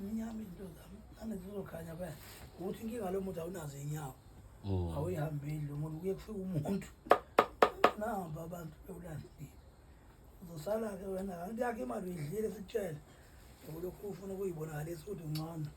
Mnyama izinto zami. Nami zizokhanya phela. Ukuthi inkinga lo muntu awunazo inyawo. Mm. Awuyihambeli lo muntu kuye kufika umuntu. Namba abantu bewulandile. Uzosala ke wena kanti yakhe imali uyidlile sikutshela. Ukulokhu ufuna ukuyibonakalisa ukuthi ungcono.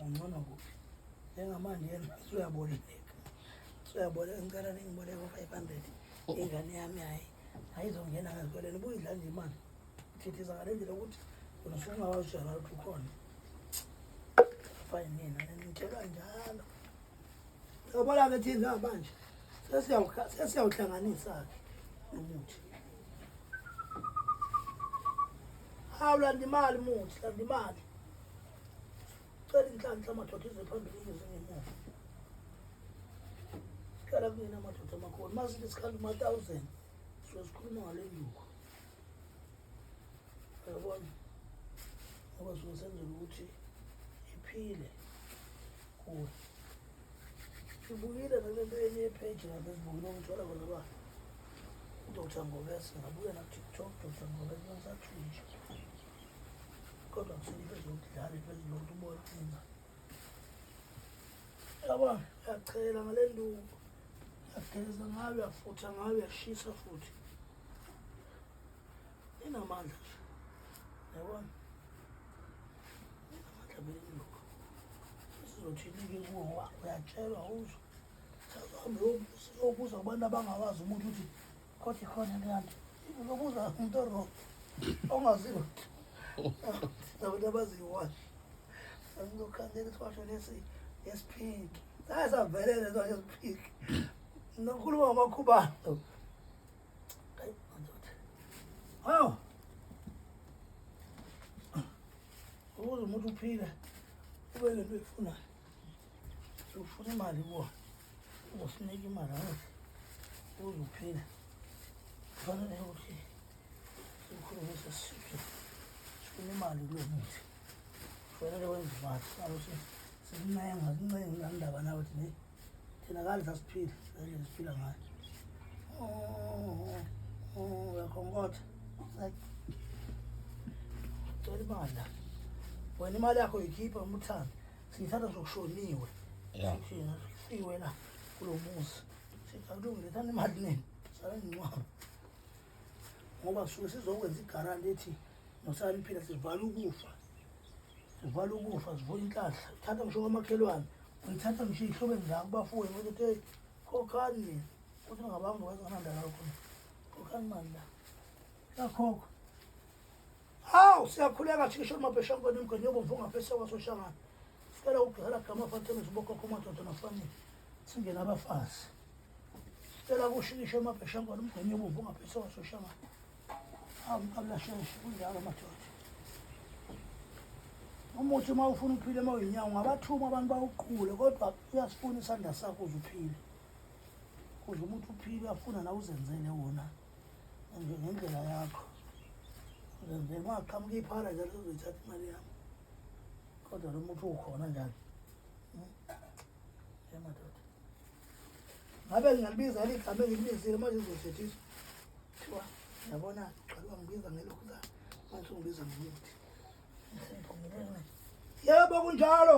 Ungcono kuphi? Njengamanje yena usuyaboleka. Usuyaboleka ngicela ningiboleke u-500. Ingane yami hayi. Ayizongena ngazikoleni ubuyidla nje imali. Ngidliza ngale ndlela ukuthi wena usuke ungawazi ukuthi uyazi ukuthi ukhona. Fine nina nitshela njalo. Yabona ke thina manje sesiyawuhla- sesiyawuhlanganisa-ke umuthi. Hawu landa imali muthi, landa imali. Cela inhlanhla amadoda ize phambili ize ngemuva. Sikhala kunina amadoda amakhulu. Masithi sikhala uma-thousand, sizozikhuluma ngale nduku. Yabona? Ngoba suke senzela ukuthi iphile kuwe. Ngibukile nale nto enye page lapha ezibukile ngithola khona ba uDr. Ngobese ngabuya na TikTok Dr. Ngobese ngisathintsha. Kodwa kusele iphezulu ukudlala iphezulu ukuthi ubone inga. Yaba yachela ngale nduku. Yageza ngayo, yafutha ngayo, yashisa futhi. Inamandla nje. Yabona? Inamandla vele induku. Sizothini-ke kuwo ngoba uyatshelwa uzwa. Sihambe siyobuza kubantu abangawazi umuntu ukuthi Kothi khona kanti uzobuza umuntu oro ongaziwa nabantu abaziwayo sasizokhandela isibasho lesi esiphiki saye savelele isibasho esiphiki nokhuluma ngamakhubalo hawu ukuze umuntu uphile ube nento eyifunayo sokufuna imali kuwona uzosinike imali angazi uze uphila kufanele ukuthi sikhulumise sisiphe sifuna imali kulo muthi kufanele wenze imali salokuthi sikuncenga kuncenga nandaba nawe thi ne thina kadla siphile endlela siphila ngayo uyakhonkotha cela imali wena imali yakho yikhipha umuthando Sithatha sokushoniwe. Yeah. Sithina siwe la kulo muzi. Sithakulungile thana imali nini? Sala ngcwaba. Ngoba suke sizokwenza igarant ethi nosani phila sivala ukufa. Sivala ukufa sivula inhlahla. Thatha ngisho kwamakhelwane. Ngithatha ngisho ihlobe ngizaka kubafowenu ukuthi hey khokhani nina. Uthi ngabanga wazi kananda la khona. Khokhani mali la. Yakhokho. Hawu siyakhuleka thisha umabhesha ngone mgane yobomvu ngaphese kwasoshangana. Sicela ukugcela gama fathele zibokhokho madoda nafanele. Singena abafazi. Sicela kushikisha umabhesha ngone mgane yobomvu ngaphese kwasoshangana. Hawu mkabla sheshe kunjalo madoda. Umuthi uma ufuna uphile uma uyinyawo ungabathuma abantu bawuqule kodwa uyasifuna isandla sakho uze uphile. Kuze umuntu uphile uyafuna na uzenzele wona. manje ngendlela yakho nje uma qhamuka iphara njalo uzoyithatha imali yami kodwa lo muntu ukhona njalo yamadoda hmm? ngabe ngingalibiza eli gama engilibizile manje uzothethiswa kuthiwa yabona qala wangibiza ngelokhuzana manje ungibiza ngomuthi yebo kunjalo